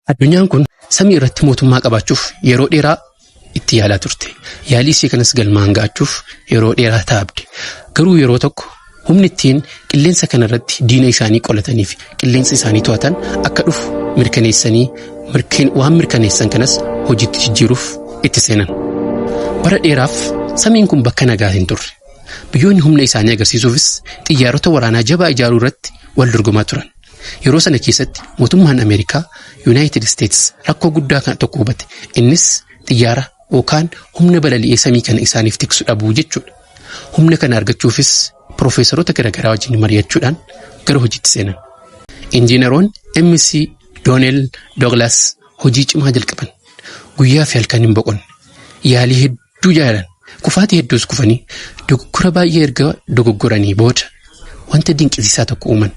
Addunyaan kun samii irratti mootummaa qabaachuuf yeroo dheeraa itti yaalaa turte. Yaalii isii kanas galmaan ga'achuuf yeroo dheeraa taabde. Garuu yeroo tokko humni ittiin qilleensa kana irratti diina isaanii qolatanii fi qilleensa isaanii to'atan akka dhufu mirkaneessanii waan mirkaneessan kanas hojiitti jijjiiruuf itti seenan. Bara dheeraaf samiin kun bakka nagaa hin turre. Biyyoonni humna isaanii agarsiisuufis xiyyaarota waraanaa jabaa ijaaruu irratti wal dorgomaa turan. Yeroo sana keessatti mootummaan Ameerikaa Yuunaayitid Isteetis rakkoo guddaa kana tokko hubate. Innis xiyyaara yookaan humna balali'ee samii kana isaaniif tiksu dhabuu jechuudha. Humna kana argachuufis piroofeesaroota garaagaraa wajjin mari'achuudhaan gara hojiitti seenan. Injiinaroon MC Doonel Dooglas hojii cimaa jalqaban. Guyyaa fi halkan hin boqonne. Yaalii hedduu hedduu jaalan kufaatii hedduus kufanii dogoggora baay'ee erga dogoggoranii booda wanta dinqisiisaa tokko uuman.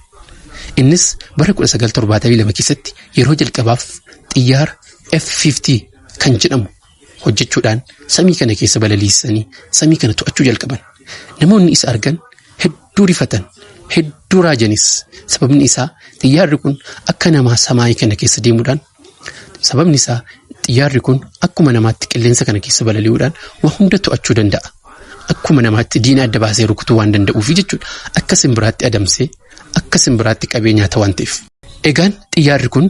Innis bara 1972 keessatti yeroo jalqabaaf xiyyaara F-50 kan jedhamu hojjechuudhaan samii kana keessa balaliisanii samii kana to'achuu jalqaban. Namoonni isa argan hedduu rifatan, hedduu raajanis. Sababni isaa xiyyaarri kun akka namaa samaayii kana keessa deemuudhaan Sababni isaa xiyyaarri kun akkuma namaatti qilleensa kana keessa balali'uudhaan waa hunda to'achuu danda'a. Akkuma namaatti diina adda baasee rukutuu waan danda'uufi jechuudha. Akka simbiraatti adamsee akka simbiraatti qabee nyaata waan ta'eef. Egaan xiyyaarri kun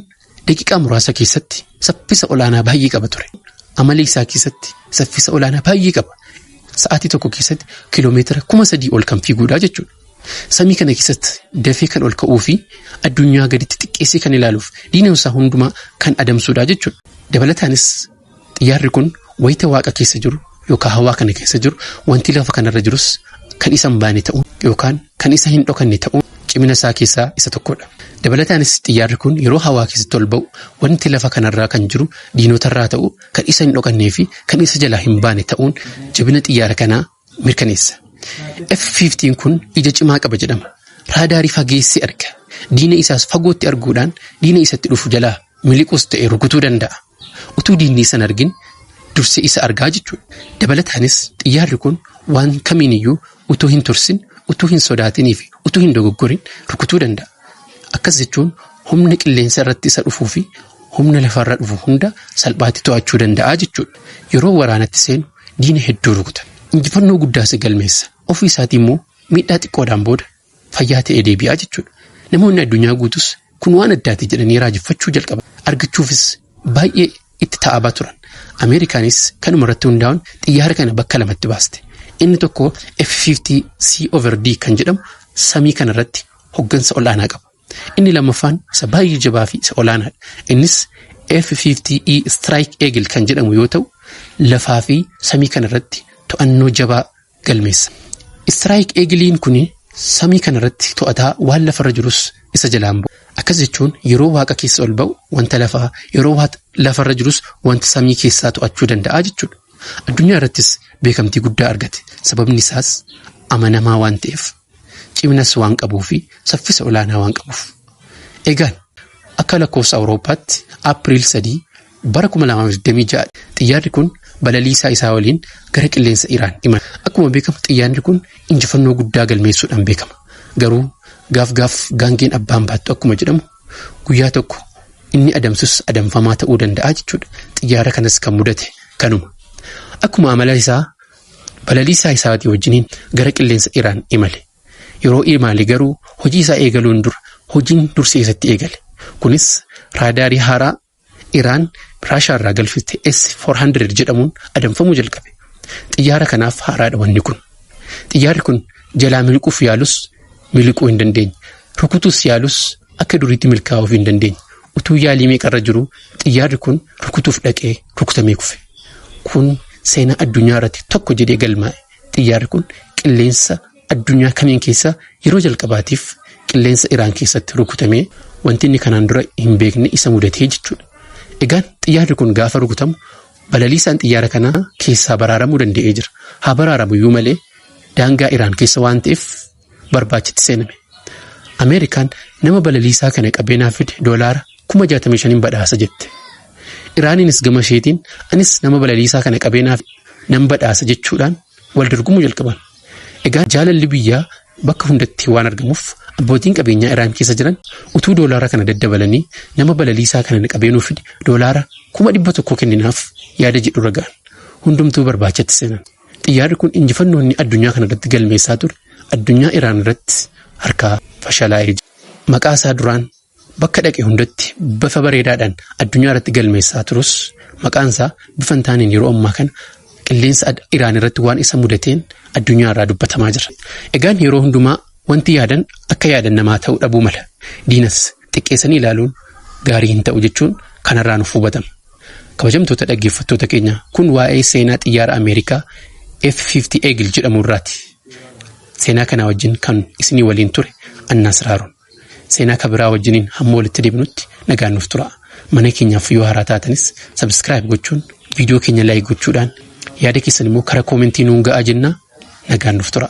daqiiqaa muraasa keessatti saffisa olaanaa baay'ee qaba ture. Amala isaa keessatti saffisa olaanaa baay'ee qaba. Sa'aatii tokko keessatti kiiloomeetira kuma sadii ol kan fiiguudha jechuudha. Samii kana keessatti dafee kan ol ka'uu fi addunyaa gaditti xiqqeessee kan ilaaluuf diina isaa hundumaa kan adamsuudha jechuudha. Dabalataanis xiyyaarri kun wayita waaqa keessa jiru yookaan hawaa kana keessa jiru wanti lafa kanarra jirus kan isa hin baane ta'uun yookaan kan isa hin dhokanne ta'uun cimina isaa keessaa isa tokkodha. Dabalataanis xiyyaarri kun yeroo hawaa keessatti ol ba'u wanti lafa kanarraa kan jiru diinotarraa ta'u kan isa hin dhokannee fi kan isa jalaa hin baane ta'uun jabina xiyyaara kanaa mirkaneessa. F-15 kun ija cimaa qaba jedhama. Raadaarii fageessee arga. Diina isaas fagootti arguudhaan diina isatti dhufu jalaa miliquus ta'e rukutuu danda'a. Utuu diinni isa hin argin dursee isa argaa jechuudha. Dabalataanis xiyyaarri kun waan kamiiniyyuu utuu hin tursin, utuu hin sodaatinii fi utuu hin dogoggorin rukutuu danda'a. Akkas jechuun humna qilleensa irratti isa dhufuu fi humna lafarra dhufu hunda salphaatti to'achuu danda'a jechuudha. Yeroo waraanatti seenu diina hedduu rukutan. Injifannoo guddaas galmeessa. Ofii isaatii immoo miidhaa xiqqoodhaan booda fayyaa ta'ee deebi'aa jechuudha. Namoonni addunyaa guutus kun waan addaati jedhanii raajeffachuu jalqaba. Argachuufis baay'ee itti taa'abaa turan. Ameerikaanis kanuma irratti hundaa'uun xiyyaara kana bakka lamatti baaste. Inni tokko F-50C over D kan jedhamu samii kana irratti hoggansa ol'aanaa qaba. Inni lammaffaan isa baay'ee jabaa fi isa olaanaadha. Innis F-50E Strike Eagle kan jedhamu yoo ta'u, lafaa fi samii kana irratti to'annoo jabaa galmeessa. Strike Eagle'n kun samii kana irratti to'ataa waan lafarra jirus isa jalaan bu'a. Akkas jechuun yeroo waaqa keessa ol ba'u wanta lafaa, yeroo lafarra jirus wanta samii keessaa to'achuu danda'a jechuudha. Addunyaa irrattis beekamtii guddaa argate. Sababni isaas amanamaa waan ta'eef. Ciminas waan qabuu fi saffisa olaanaa waan qabuuf. Egaan akka lakkoofsa Awurooppaatti April 3 bara 2026 xiyyaarri kun balaliisaa isaa waliin gara qilleensa Iraan imala. Akkuma beekamu xiyyaarri kun injifannoo guddaa galmeessuudhaan beekama. Garuu gaaf gaaf gaangeen abbaan baattu akkuma jedhamu guyyaa tokko inni adamsus adamfamaa ta'uu danda'a jechuudha. Xiyyaara kanas kan mudate kanuma. Akkuma amala isaa Balaliisaa isaatii wajjiniin gara qilleensa Iraan imale. Yeroo imaale garuu hojii isaa eegaluun dura hojiin dursee isatti eegale. Kunis raadaarii haaraa Iraan Raashaarraa galfite S-400 jedhamuun adamfamuu jalqabe. Xiyyaara kanaaf haaraadha wanni kun. Xiyyaarri kun jalaa miliquuf yaalus miliquu hin dandeenye. Rukutuus yaalus akka duriitti milkaa'uuf hin dandeenye. Utuu yaalii meeqa irra jiruu xiyyaarri kun rukutuuf dhaqee rukutamee kufe. Kun seenaa addunyaa irratti tokko jedhee galmaa'e. Xiyyaarri kun qilleensa addunyaa kamiin keessa yeroo jalqabaatiif qilleensa Iraan keessatti rukutamee wanti inni kanaan dura hin beekne isa mudatee jechuudha. Egaan xiyyaarri kun gaafa rukutamu balaliisaan xiyyaara kanaa keessaa baraaramuu danda'ee jira. Haa baraaramu iyyuu malee daangaa Iraan keessa waan ta'eef barbaachitti seename. Ameerikaan nama balaliisaa kana qabeenaa fide doolaara kuma 65 badhaasa jette. Iraaniinis gama isheetiin anis nama balaliisaa kana qabeenaa nan badhaasa jechuudhaan wal dorgomuu jalqaban. Egaa jaalalli biyyaa bakka hundatti waan argamuuf abbootiin qabeenyaa Iraan keessa jiran utuu doolaara kana daddabalanii nama balaliisaa kana qabeenuu fide doolaara kuma dhibba tokko kenninaaf yaada jedhu ragaan hundumtuu barbaachatti seenan. Xiyyaarri kun injifannoo inni addunyaa kana irratti galmeessaa ture addunyaa Iraan irratti harkaa fashalaa'ee jira. Maqaa isaa duraan bakka dhaqe hundatti bifa bareedaadhaan addunyaa irratti galmeessaa turus maqaan isaa bifa hin taaneen yeroo ammaa kana qilleensa Iraan irratti waan isa mudateen addunyaa irraa dubbatamaa jira. Egaan yeroo hundumaa wanti yaadan akka yaadan namaa ta'uu dhabuu mala. Diinas xiqqeessanii ilaaluun gaarii hin ta'u jechuun kanarraa nuuf hubatama. Kabajamtoota dhaggeeffattoota keenya kun waa'ee seenaa xiyyaara Ameerikaa F-50 Eagle jedhamu irraati. Seenaa kanaa wajjin kan isinii waliin ture Annaas Raaroon. Seenaa kabiraa wajjiniin hamma walitti deebinutti nagaan nuuf tura. Mana keenyaaf yoo haaraa taatanis sabiskiraayib gochuun viidiyoo keenya laayik gochuudhaan yaada keessan immoo karaa koomentii nuun ga'aa jennaa nagaan nuuf tura.